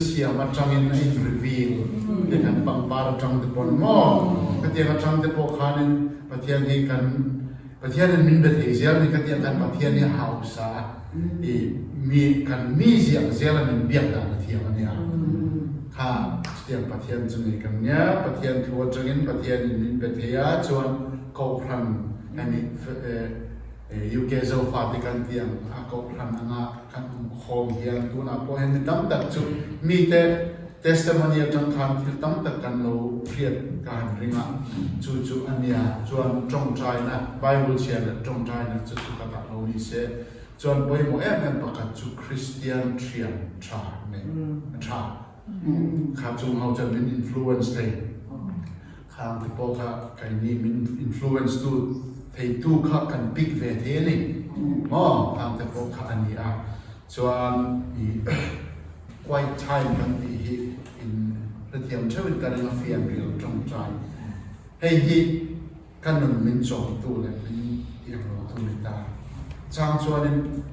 Siam atangin a inreveal lehkhan pangpar atangte pawh an maw? Khatiang atangte pawh khanin Pathian hi kan Pathianin min be thei zel ni khatiang khan Pathian hi a hausa a, i mi kan mi ziak zel a min biak dan a thiam a nia. Kha chutiang Pathian chu nei kan nia, Pathian thu atangin Pathianin min be theia chuan kohhran emaw UK Zofa te kan ti ang kha kohhran anga kan awm khawm hian tunah pawh hian mi tam tak chu mite testimony atang khan thil tam tak kan lo hriat ka han ring a chu chu a nia chuan tawngtaina bible chhiar leh tawngtaina chu chu ka tah lo ni se chuan pawimawh em em pakhat chu Christian thian tha a ni tha. Kha chung ho chuan min influence thei. Kha ang te pawh kha kai ni min influence tu thei tu kha kan pick ve thei a ni maw? Kha ang te pawh kha a ni a. Chuan i quiet time kan tih hi in hrethiam theuhin ka ring a fian rilh tangkai. Hei hi. Ka nun min chawmtu leh min ianglotu ni ta chang chuanin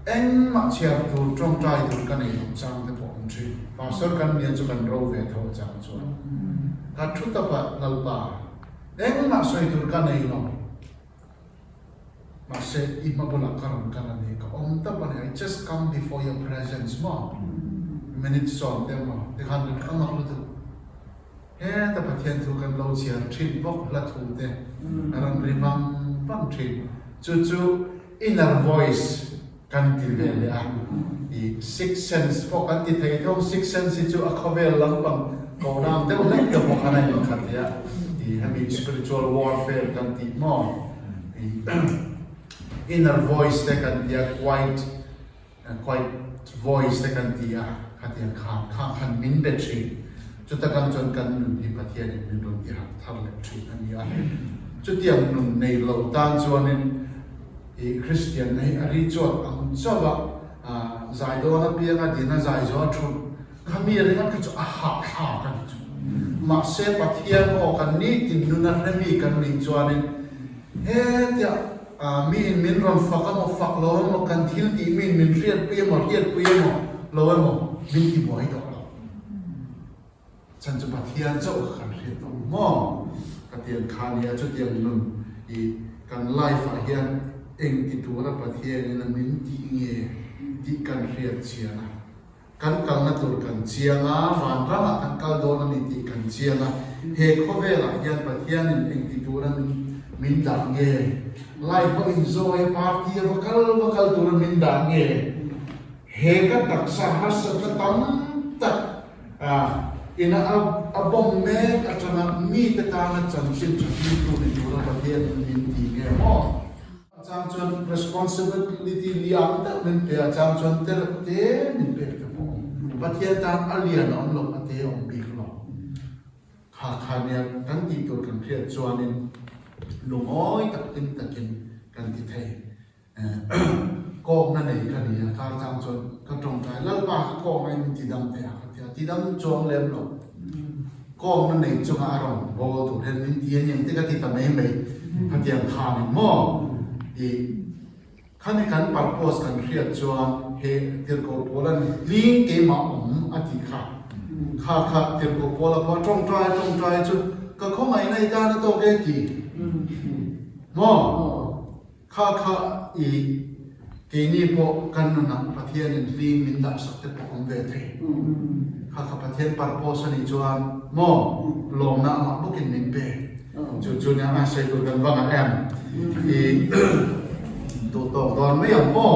engmah chhiar tur tawngtai tur ka nei loh chang te pawh awm thin. Pastor kan nia chu kan ro ve tho chang chuan ka thu taka Lalpa, engmah sawi tur ka nei lo, mahse i hma bulah ka rawn kal a ni, ka awm ta pawh a ni, I just come before your presence maw, minute sawm te maw tikhan ka rak a mak lutuk. Heta Pathian chu kan lo chhiar thin bawk hla thute a rawn ri vang vang thin. Chu chu inner voice kan ti ve leh a. I sixth sense pawh kan ti thei thung, sixth sense hi chu a khawvel lampang kohram deuh hlek te pawh a rawn inkhat leh a. I hemi spiritual warfare kan tih maw? I inner voice te kan tia quiet. Quite voice te kan ti a, khatiang kha kha khan min be thin. Chuta kan chuan kan nun hi Pathianin min rawn ti hak thar leh thin a ni a. Chutiang nun nei lo tan chuanin i Kristian na hi a ri chuak ang chauh a, zai dawn apiang a din a, zai zawh a thut kha mi ringawt kha chu a hahthlak a ni chu. Mahse Pathian aw kan ni tin nun a hre mi kan nih chuanin, Hetiang ah mi in min rawn fak a maw, fak lo a maw, kan thil tih mi in min hriat pui a maw, hriat pui a maw, lo e maw, min ti buai tawh lo. Chuan chu Pathian chauh kha kan hriat tawh ang maw? Ka ti ang kha nia, chutiang nun i kan life ah hian engtitura Pathian in a min ti nge tih kan hriatchian a, Kan kalna tur kan chiang a, vanrangah kan kal dawn a ni tih kan chiang a. He khawvelah hian Pathianin engti tur an min dah nge? Laiho inzawngei party a va kal va kal tur an min dah nge? He ka taksa harsatna tam tak a ina a bawm mek atanga mite tana chanchin tha hlimtu ni tura Pathianin min ti nge maw? A chang chuan responsibility ni ang deuh men pe a chang chuan tereuh te min pek te pawh Pathian tan a lian a awm lo a te a awm bik lo. Khakha nia kan tih tur kan hriat chuanin lungawi tak hlim takin kan ti thei kawkna nei ka nia ka chang chuan ka tawngtai Lalpa kha kawkna in ti dang thei ang ka ti a ti dang chuang lem lo. Kawng na neih chunga a rawn bawl tur hian min ti aniang te ka ti ta mai mai hetiang khan in maw i khani kan purpose kan hriat chuan he tirhkoh pawl a ni tling keimah awm a ti kha kha kha tirhkoh pawl a pawh tawng trai tawng trai chu ka khawngaihna i tan a tawk e ti maw. Kha kha i, keini pawh kan nunah Pathianin hlîm min dahsak te pawh awm ve thei. Kha kha Pathian purpose a nih chuan maw lawmna amah bawkin min pe. Chu chu nia a sawitu kan vangah em i duh tawk dawn mai ang maw?